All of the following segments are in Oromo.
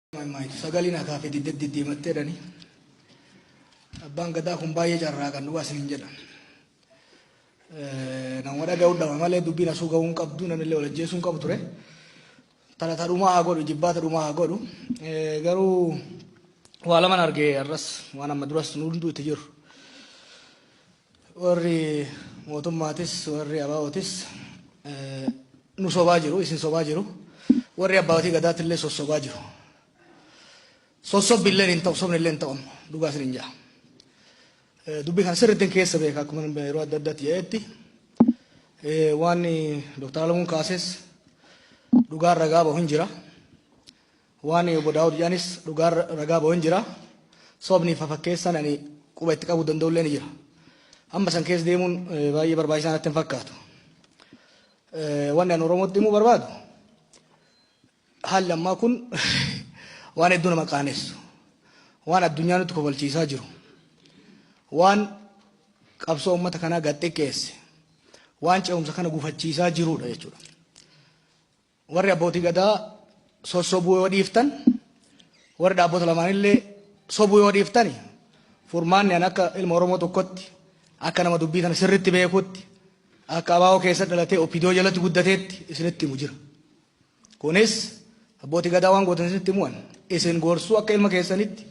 Maaytu sagalee na kaafee didde diddiimattee dhani. Abbaan gadaa kun baay'ee carraa kan dhugaa isin jedha. Nama dhaga'uu dhama malee dubbiin asuu ga'uu hin qabdu namni illee walajjeesuu hin qabu ture. Talata dhumaa haa godhu jibbaata dhumaa haa godhu. Garuu waa laman argee har'as waan amma duras nu hunduu itti jiru. Warri mootummaatis warri ABOtis nu sobaa jiru, isin sobaa jiru. Warri abbaatii gadaatti illee sossobaa jiru. Sossobbi illee hin ta'u, sobni illee hin ta'u amma dhugaa isin hin ja'a. Dubbii kana sirriitti keessa beeka akkuma yeroo adda addaatti jedhetti waan Dooktar Alamuun kaases dhugaan ragaa bahu hin jira. Waan Obbo Daawud jedhanis dhugaa ragaa bahu hin jira. Sobni fi fafakkeessaan ani quba itti qabuu danda'u illee ni jira. Amma san keessa deemuun baay'ee barbaachisaa natti hin fakkaatu. Wanni ani Oromootti himuu barbaadu haalli ammaa kun waan hedduu nama qaanessu. Waan addunyaa nutti kofalchiisaa jiru. Waan qabsoo uummata kanaa gad xiqqeesse. Waan ce'umsa kana gufachiisaa jirudha jechuudha. Warri Abbootii Gadaa sossobuu yoo dhiiftan, warri dhaabbota lamaanillee sobuu yoo dhiiftani furmaanni an akka ilma Oromoo tokkotti akka nama dubbii kana sirritti beekutti akka abaa'oo keessa dhalatee opidoo jalatti guddateetti isinitti himu jira. Kunis Abbootii Gadaa waan gootan isinitti himu'an isin gorsuu akka ilma keessanitti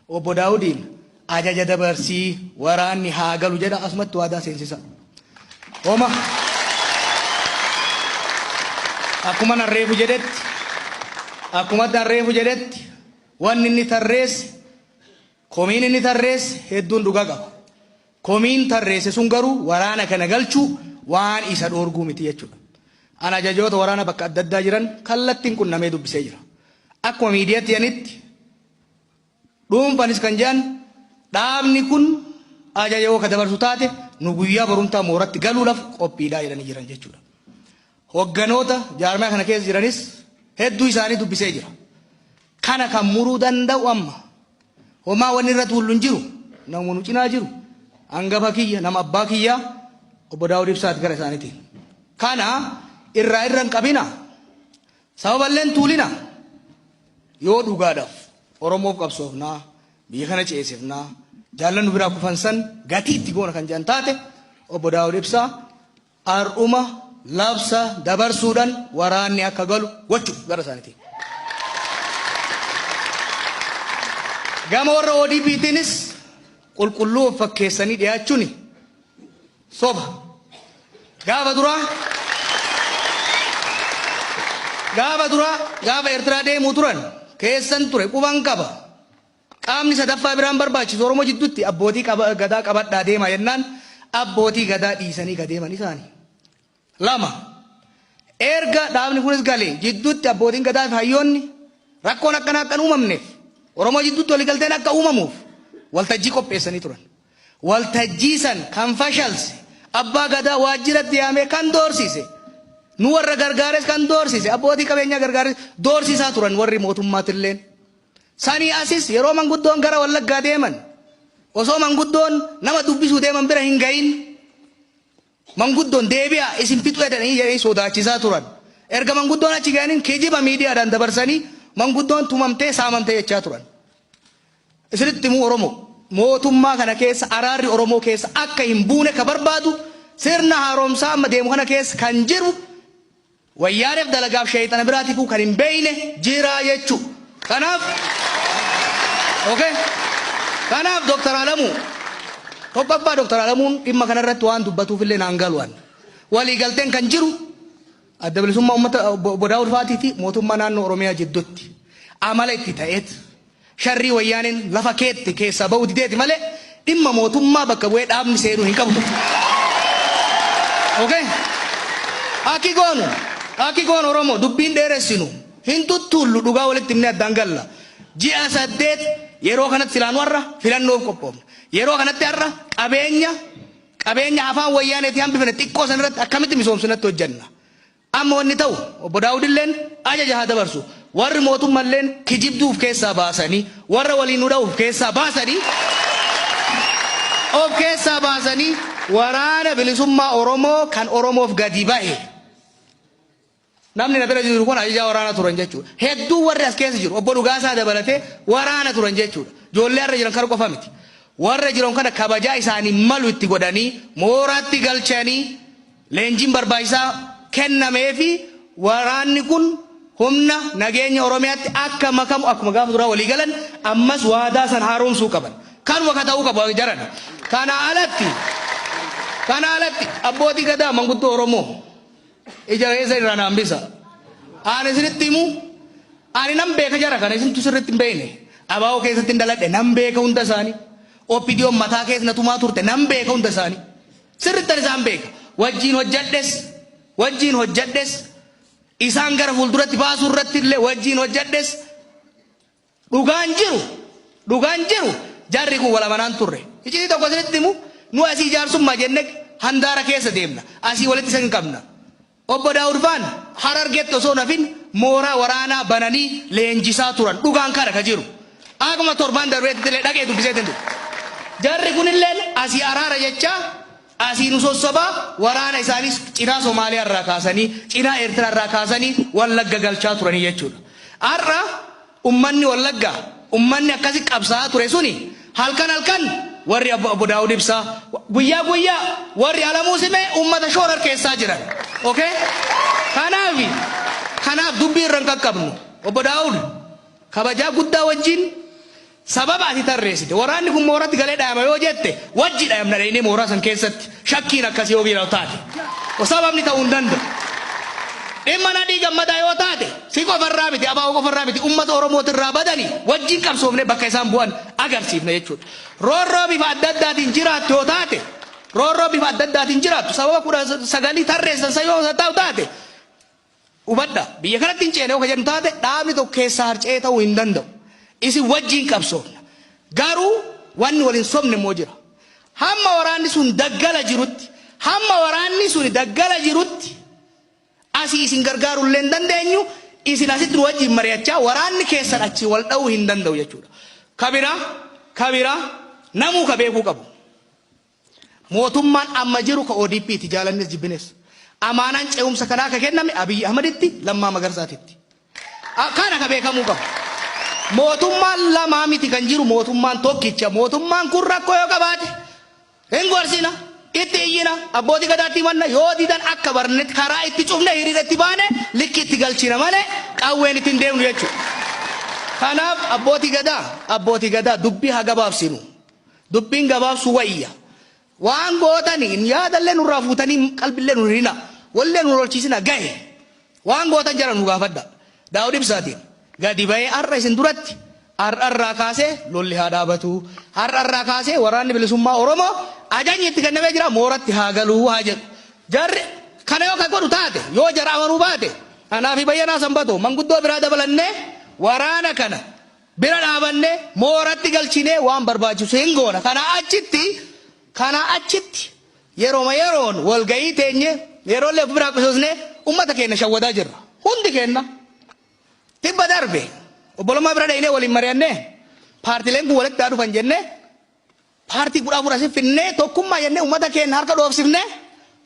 Obbo Daawudiin ajaja dabarsii waraanni haa galu jedha asumatti waadaa seensisa. Homa akkuma nan reefu jedhetti akkuma nan reefu jedhetti wanni inni tarreesse komiin inni tarreesse hedduun dhugaa qaba. Komiin tarreesse sun garuu waraana kana galchuu waan isa dhoorguu miti jechuudha. An ajajoota waraana bakka adda addaa jiran kallattiin qunnamee dubbisee jira. Akkuma miidiyaatti yanitti Dhuunfaanis kan jedhan dhaabni kun ajaja yoo ka dabarsu taate nu guyyaa barumtaa mooratti galuudhaf qophiidha jedhanii jiran jechuudha. Hogganoota jaarmaya kana keessa jiranis hedduu isaanii dubbisee jira. Kana kan muruu danda'u amma homaa wanni irratti hullu hin jiru namuma nu cinaa jiru hangafa kiyya nama abbaa kiyyaa obbo Daawud Ibsaati gara isaaniitiin. Kana irraa irra hin qabina Sababalleen Tuulina, Yoo dhugaadhaf Oromoof qabsoofna, biyya kana ceesifna, jaallan nu biraa kufan san gatii itti goona kan jedhan taate, Obbo Daawud Ibsaa har'uma labsa dabarsuudhan waraanni akka galu gochuf gara isaanitiin. Gama warra ODPtiinis qulqulluu of fakkeessanii dhiyaachuni. Soba. Gaafa duraa Gaafa duraa gaafa Eertiraa deemuu turan keessan ture quban qaba. Qaamni sadaffaa biraan barbaachisu Oromoo jidduutti abbootii qaba, gadaa qabadhaa deemaa jennaan abbootii gadaa dhiisanii gadeeman isaani. 2. Erga dhaabni kunis galee jidduutti abbootiin gadaafi hayyoonni rakkoon akkanaa akka hin uumamneef Oromoo jidduutti waliigalteen akka uumamuuf waltajjii qopheessanii turan. Waltajjii san kan fashalse abbaa gadaa waajjiratti yaamee kan doorsise nu warra gargaares kan doorsise abbootii qabeenyaa gargaares doorsisaa turan warri mootummaatilleen. Sanii asis yeroo manguddoon gara Wallaggaa deeman osoo manguddoon nama dubbisuu deeman bira hin gahin Manguddoon deebi'aa isin fixuu jedhanii jedhanii sodaachisaa turan. Erga manguddoon achi ga'aniin kijiba miidiyaadhaan dabarsanii manguddoon tumamtee saamamte jechaa turan. Isinitti himuu Oromoo mootummaa kana keessa araarri Oromoo keessa akka hin buune ka barbaadu sirna haaromsaa amma deemu kana keessa kan jiru Wayyaanef dalagaaf sheeyxana biraatifuu kan hin beeyne jiraa jechu. Kanaaf ok kanaaf Dr. Alamuu tokkoffaa Dr. Alamuun dhimma kana irratti waan dubbatuuf illee naan galu an. Walii galteen kan jiru Adda Bilisummaa Ummata Obbo Daawud Faatiifi mootummaa naannoo Oromiyaa jiddutti amala itti ta'eet Sharrii Wayyaaneen lafa keette keessaa ba'uu dideeti malee dhimma mootummaa bakka bu'ee dhaabni seenuu hin qabu turte. Okay? Akki goonu, akki goonu Oromoo dubbii hin dheeressinu, hin tuttuullu dhugaa walitti himnee addaan galla. Ji'a saddeet yeroo kanatti silaa nu har'a filannoof qophoofna. Yeroo kanatti har'a qabeenya qabeenya afaan Wayyaaneetii hambifne xiqqoo san irratti akkamitti misoomsinatti hojjanna. Amma wanni ta'u, Obbo Daawudilleen ajaja haa dabarsu, warri mootummalleen kijibduu uf keessaa baasanii, warra waliin nu dha'u uf keessaa baasanii, of keessaa baasanii Waraana Bilisummaa Oromoo kan Oromoof gadi bahe, namni na bira jiru kun ajajaa waraanaa turan jechuudha. Hedduun warri as keessa jiru, Obbo Dhugaasaa dabalatee waraana turan jechuudha. Ijoollee har'a jiran kana qofa miti. Warra jiran kana kabajaa isaaniif malu itti godhanii, mooraatti galchanii, Leenjiin barbaachisaa kennameefi waraanni kun humna nageenya Oromiyaatti akka makamu akkuma gaafa duraa walii galan ammas waadaa san haaromsuu qaban. Kanuma ka ta'uu qabu jaran. Kanaa alatti kanaa alatti abbootii gadaa manguddoo Oromoo ija keessa irraa na hambisa. Aan isinitti himu ani nan beeka jara kana isintu sirriitti hin beekne. Abaa'oo keessatti hin daladhe nan beeka hunda isaanii. OPDOn mataa keessa na tumaa turte nan beeka hunda isaanii. Sirrittan isaan beeka. Wajjiin hojjadhes, wajjiin hojjadhes, isaan gara fuulduratti baasuu irratti illee wajjiin hojjadhes, dhugaan jiru, dhugaan jiru jarri kun wal amanaan turre. Iccitii tokko isinitti himu, nu asii jaarsummaa jenne handaara keessa deemna. Asii walitti isin qabna. Obbo Daawud Faan Harargeetti osoo hin hafin mooraa waraanaa bananii leenjisaa turan. Dhugaan kana ka jiru. Akkuma torbaan darbeettillee dhaqee dubbiseetiin dhufe. Jarri kunilleen asii araara jechaa asii nu sossobaa waraana isaaniis cinaa Somaaliyaa irraa kaasanii cinaa Eertiraa irraa kaasanii Wallagga galchaa turanii jechuudha. Har'a Ummanni Wallaggaa, ummanni akkasi qabsaa'aa ture suni halkan halkan warri abo Obbo Daawud Ibsaa, guyyaa guyyaa warri Alamuu Simee ummata shoorarkeessaa jiran. Ok? Kanaafi, kanaaf dubbii irra hin qaqqabnu. Obbo Daawud, kabajaa guddaa wajjin sababa ati tarreessite, waraanni kun mooratti galee dhayama yoo jette, wajji dhayamna dhaynee mooraa san keessatti. Shakkiin akkasii yoo biiraw taate sababni ta'uu hin danda'u. Dhimma Nadhii Gammadaa yoo taate si qofa irraa miti ABO qofa irraa miti uummata Oromooti irraa badanii wajjin qabsoofne bakka isaan bu'an agarsiifna jechuudha. Roorroo bifa adda addaatiin jiraattu yoo taate roorroo bifa adda addaatiin jiraattu sababa kudha sagalii tarreessan san yoo ta'u taate Hubadha, biyya kanatti hin ceena yoo ka jedhu taate, dhaabni tokko keessaa harca'ee ta'uu hin danda'u. Isin wajjiin qabsoofna. Garuu wanni wal hin sobne immoo jira. Hamma waraanni sun daggala jirutti, hamma waraanni suni daggala jirutti asii isin gargaaruu illee hin dandeenyu, isin asitti nu wajjiin mari'achaa waraanni keessan achii wal dha'uu hin danda'u jechuudha. Ka biraa, ka biraa namuu ka beekuu qabu. Mootummaan amma jiru ka ODP ti, jaalannes jibbines. Amaanaan ce'umsa kanaa ka kenname Abiy Ahmaditti, Lammaa Magarsaatitti. Kana ka beekamuu qabu. Mootummaan lama miti kan jiru, mootummaan tokkicha. Mootummaan kun rakkoo yoo qabaate hin gorsina, itti iyyina, Abbootii Gadaatti himanna, yoo didan akka barnetti karaa itti cufnee hiriira itti baane likki itti galchina malee qawween itti hin deemnu jechuudha. Kanaaf Abbootii Gadaa, Abbootii Gadaa dubbii haa gabaabsinu. Dubbiin gabaabsuu wayya. Waan gootani hin yaadalle nurraa fuutanii qalbille nun hirina. Wolle nun lolchiisina gahe. Waan gootan jara nu gaafadha. Daawud Ibsaatiin gadi bahee har'a isin duratti har'a irraa kaasee lolli haa dhaabatu. Har'a irraa kaasee waraanni bilisummaa Oromoo ajajni itti kennamee jira mooratti haa galu haa jedhu. Jarri kana yoo ka godhu taate yoo jara amanuu baate anaa fi Bayyanaa Sanbatoo manguddoo biraa dabalannee waraana kana bira dhaabannee, mooratti galchinee waan barbaachisu hin goona. Kanaa achitti, kanaa achitti yeroma yeroon walga'ii teenye, yeroollee of biraa qusosnee ummata keenna shawwadaa jirra. Hundi keenna. Tibba darbe obbolummaa bira dhaynee waliin mari'annee paartileen kun walitti haa dhufan jennee paartii 14 asi finnee tokkummaa jennee ummata keenna harka dhoofsifnee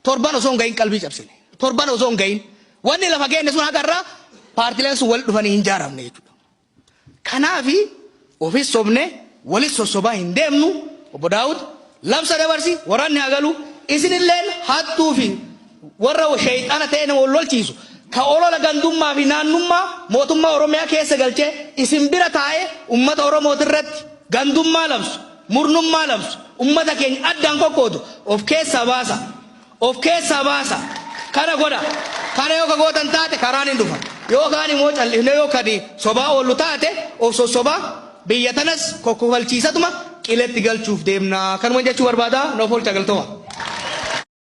torban osoo hin gahin qalbii cabsine. Torban osoo hin gahin. Wanni lafa keenne sun haqa irraa paartileen sun walitti dhufanii hin jaaramne jechuudha. Kanaafi ofis sobnee walis sossobaa hin deemnu, Obbo Daawud, labsa dabarsi, waraanni haa galu, isinilleen hattuu fi warra sheyxaana ta'ee nama wal lolchiisu, ka olola gandummaa fi naannummaa mootummaa Oromiyaa keessa galchee isin bira taa'ee ummata Oromootirratti gandummaa labsu, murnummaa labsu, ummata keenya addaan qoqqoodu of keessaa baasaa. of keessaa baasa. Kana godha. Kana yoo ka gootan taate karaan hin dhufa. Yoo kaan immoo cal'ifnee yoo kadi sobaa oollu taate of sossobaa biyya tanas kokkofalchiisatuma qiletti galchuuf deemna. Kanuman jechuu barbaada. Noof oolcha galtoma.